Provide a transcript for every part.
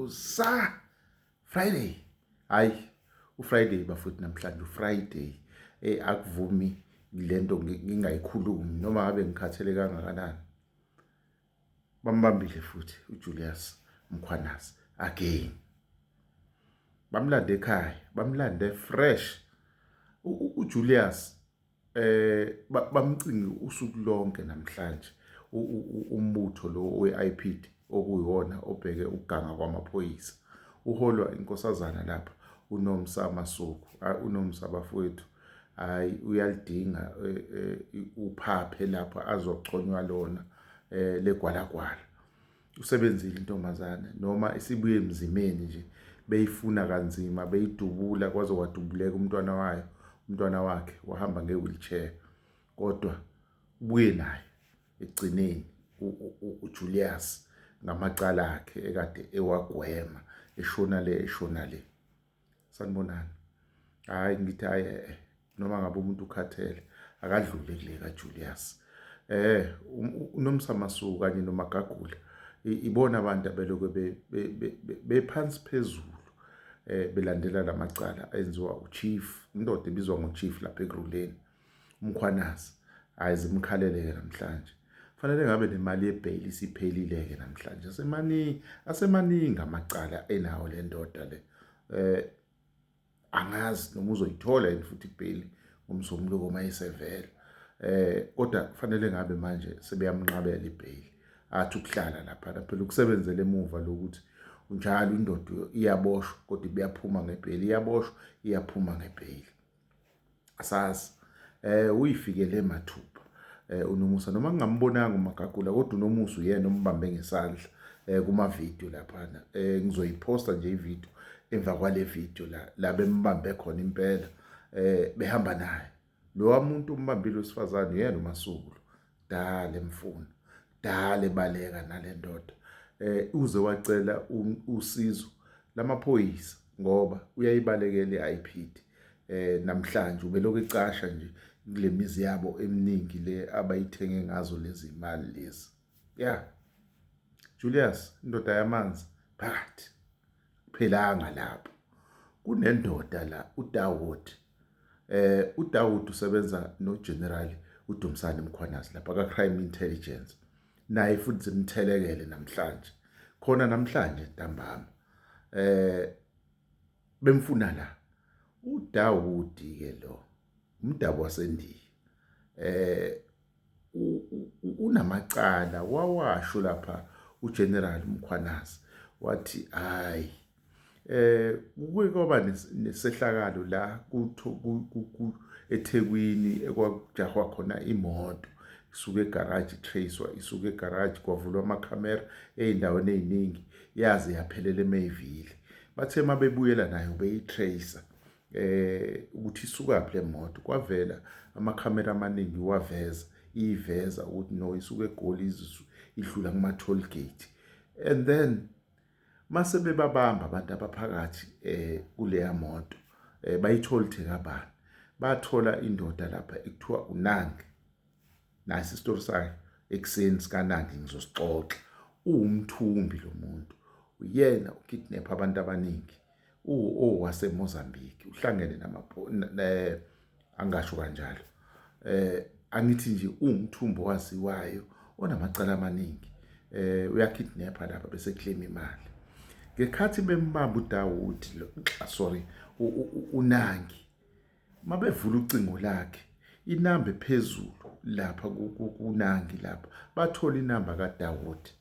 usa friday hayi ufriday bafuthi namhlanje ufriday eh akuvumi lento ngingayikhulumi noma ngabe ngikhathele kangakanani bambambile futhi uJulius Mkhwanazi again bamlande ekhaya bamlande fresh uJulius eh bamcinge usuku lonke namhlanje umbutho lo we-IPID okuyiwona obheke ukuganga kwamaphoyisa uholwa inkosazana lapha unomsa masuku unomsa bafowethu hayi uyalidinga eh, eh, uphaphe lapha azochonywa lona eh, legwalagwala usebenzile intombazane noma isibuye emzimeni nje beyifuna kanzima beyidubula kwaze wadubuleka umntwana wayo umntwana wakhe wahamba nge-wheelchair kodwa ubuye naye ekugcineni uJulius ngamacala akhe ekade ewagwema eshona le eshona le sanibonani hayi ngithi hayi eh, eh, noma ngabe umuntu ukhathele akadlule kule kaJulius eh um, unomsamasuku kanye nomagagula ibona abantu abeloke bephansi phezulu eh belandela lamacala enziwa uchief indoda ebizwa ngochief lapha ekuruleni Umkhwanazi hayi zimkhalele-ke namhlanje. Kufanele ngabe nemali yebheyili isiphelile-ke namhlanje. Asemaningi, asemaningi amacala enawo le ndoda le. Eh angazi noma uzoyithola yini futhi ibheyili ngomsombuluko uma isevela. Eh kodwa kufanele ngabe manje sebeyamnqabela ibheyili. Athi ukuhlala lapha phela ukusebenzela emuva lokuthi njalo indoda iyaboshwa kodwa ibuyaphuma ngebheyili iyaboshwa iyaphuma ngebheyili asazi eh uyifikele mathupha eh unomusa noma ngingambonanga umagagula kodwa unomusa uyena ombambe ngesandla eh kuma video lapha eh ngizoyiposta nje ivideo emva kwale video la la bembambe khona impela eh behamba naye lo wamuntu umbambile usifazane uyena umasulu dale mfunu dale baleka nalendoda eh uze wacela usizo lamaphoyisa ngoba uyayibalekela iIPD eh namhlanje ubelokhu icasha nje kulemizi yabo eminingi le abayithenge ngazo lezi imali lezi yeah Julius indoda yamanzi phakathi phelanga lapho kunendoda la uDawudi eh uDawudi usebenza noGeneral uDumsani Mkhwanazi lapha ka Crime Intelligence naye futhi simthelekele namhlanje khona namhlanje ntambama eh bemfuna la uDawudi ke lo umdabu wasendiya eh unamacala wawasho lapha uGeneral Mkhwanazi wathi hayi eh kuke kwaba nesehlakalo la kutho eThekwini ekwakujahwa khona imoto isuke egarage tracewa isuke egarage kwavulwa amakhamera ezindaweni eziningi yaze yaphelela eMayville bathe mabebuyela nayo beyitracer eh ukuthi isukaphi le moto kwavela amakhamera amaningi waveza iyiveza ukuthi no isuke egoli izisu idlula kuma toll gate and then mase bebabamba abantu abaphakathi eh kuleya moto eh bayitholithe kabani bathola indoda lapha ekuthiwa unange nasi isitori sakhe ekuseni sikanandi ngizosixoxa uwumthumbi lo muntu uyena ukidnapha abantu abaningi owasemozambique uhlangene angasho kanjalo um angithi nje uwumthumbi owaziwayo onamacala amaningi eh uyakidnapha lapha bese claim imali ngekhathi bembamba uDawudi lo sorry unangi Mabevula ucingo lakhe inamba ephezulu lapha kunangi lapha bathola inamba kaDawudi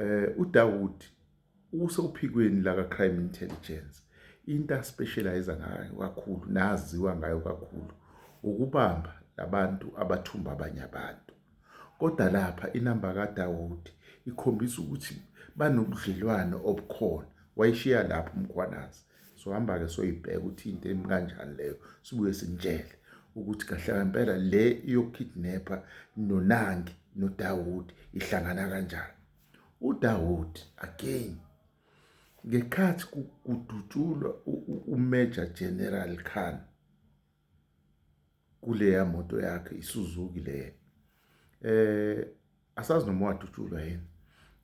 eh uDawudi usophikweni laka crime intelligence into aspecialize ngayo kakhulu naziwa ngayo kakhulu ukubamba labantu abathumba abanye abantu kodwa lapha inamba kaDawudi ikhombisa ukuthi banobudlelwane obukhona wayishiya lapho umkhwanazi sohamba-ke soyibheka ukuthi into emi kanjani leyo sibuye simtshele ukuthi kahle ngempela le yokukidnapha nonangi nodawudi ihlangana kanjani udawudi again ngekhathi kudutshulwa uMajor General Khan kuleya moto yakhe iSuzuki leyo eh asazi noma wadutshulwa yini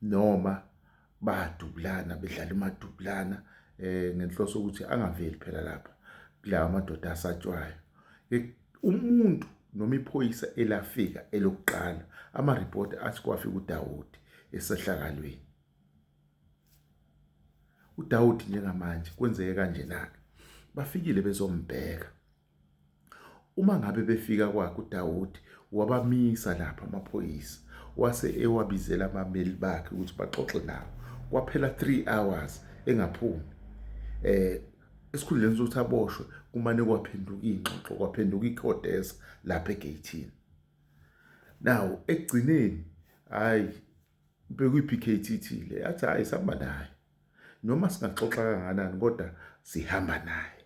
noma badubulana bedlala imadubulana eh ngenhloso ukuthi angaveli phela lapha kulawa madoda asatshwayo umuntu noma iphoyisa elafika elokuqala ama-report athi kwafika uDawudi esehlakalweni uDawudi njengamanje kwenzeke kanje na bafikile bezombheka uma ngabe befika kwakhe uDawudi wabamisa lapha amaphoyisa wase ewabizela abameli bakhe ukuthi baxoxe nawo kwaphela 3 hours engaphumi eh esikhundleni sokuthi aboshwe kumane kwaphenduka ingxoxo kwaphenduka ikhodesa lapha egeyithini now ekugcineni hayi bekuyipkt le yathi hayi sihamba naye noma singaxoxa kanganani kodwa sihamba naye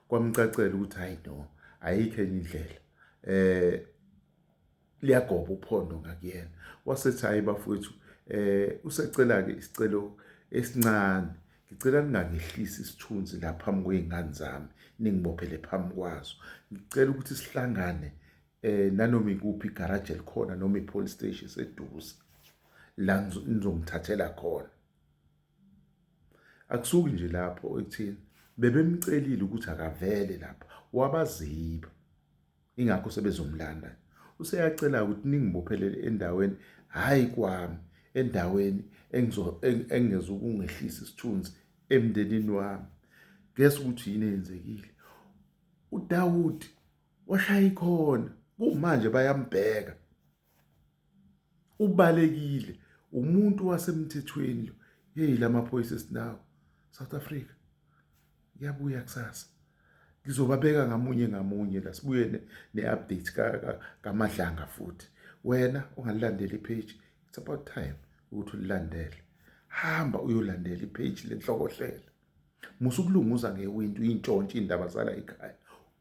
kwamcacela ukuthi hayi no ayikho enye indlela eh liyagoba uphondo ngakuyena wasethi hayi bafowethu eh usecela ke isicelo esincane ngicela ningangehlisi isithunzi la phambi kwey'ngane zami ningibophele phambi kwazo ngicela ukuthi sihlangane eh nanoma ikuphi garage elikhona noma ipolice station seduze la ngizomthathela khona akusuki nje lapho ekuthini bebemcelile ukuthi akavele lapha wabaziba ingakho sebezomlanda useyacela ukuthi ningibophelele endaweni hayi kwami endaweni engizo engeza ukungehlisa isithunzi emndenini wami guess ukuthi yini eyenzekile uDawudi washaya ikhona kumanje bayambheka ubalekile umuntu wasemthethweni lo yeyi lamaphoyisa esinawo South Africa yabuya kusasa ngizobabeka ngamunye ngamunye la sibuye ne-update kamadlanga futhi wena ungalilandela ipage it's about time ukuthi ulilandele hamba uyolandela ipage lenhlokohlela musa ukulunguza ngewindi uyintshontshe iy'ndaba zala ekhaya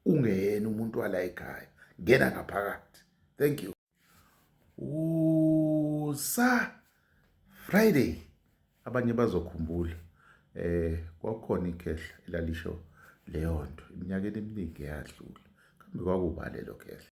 ungeyena umuntu wala ekhaya ngena ngaphakathi thank you usa friday abanye bazokhumbula eh kwakukhona ikhehla elalisho leyo nto iminyakeni eminingi eyadlula kambe kwakubalelo khehla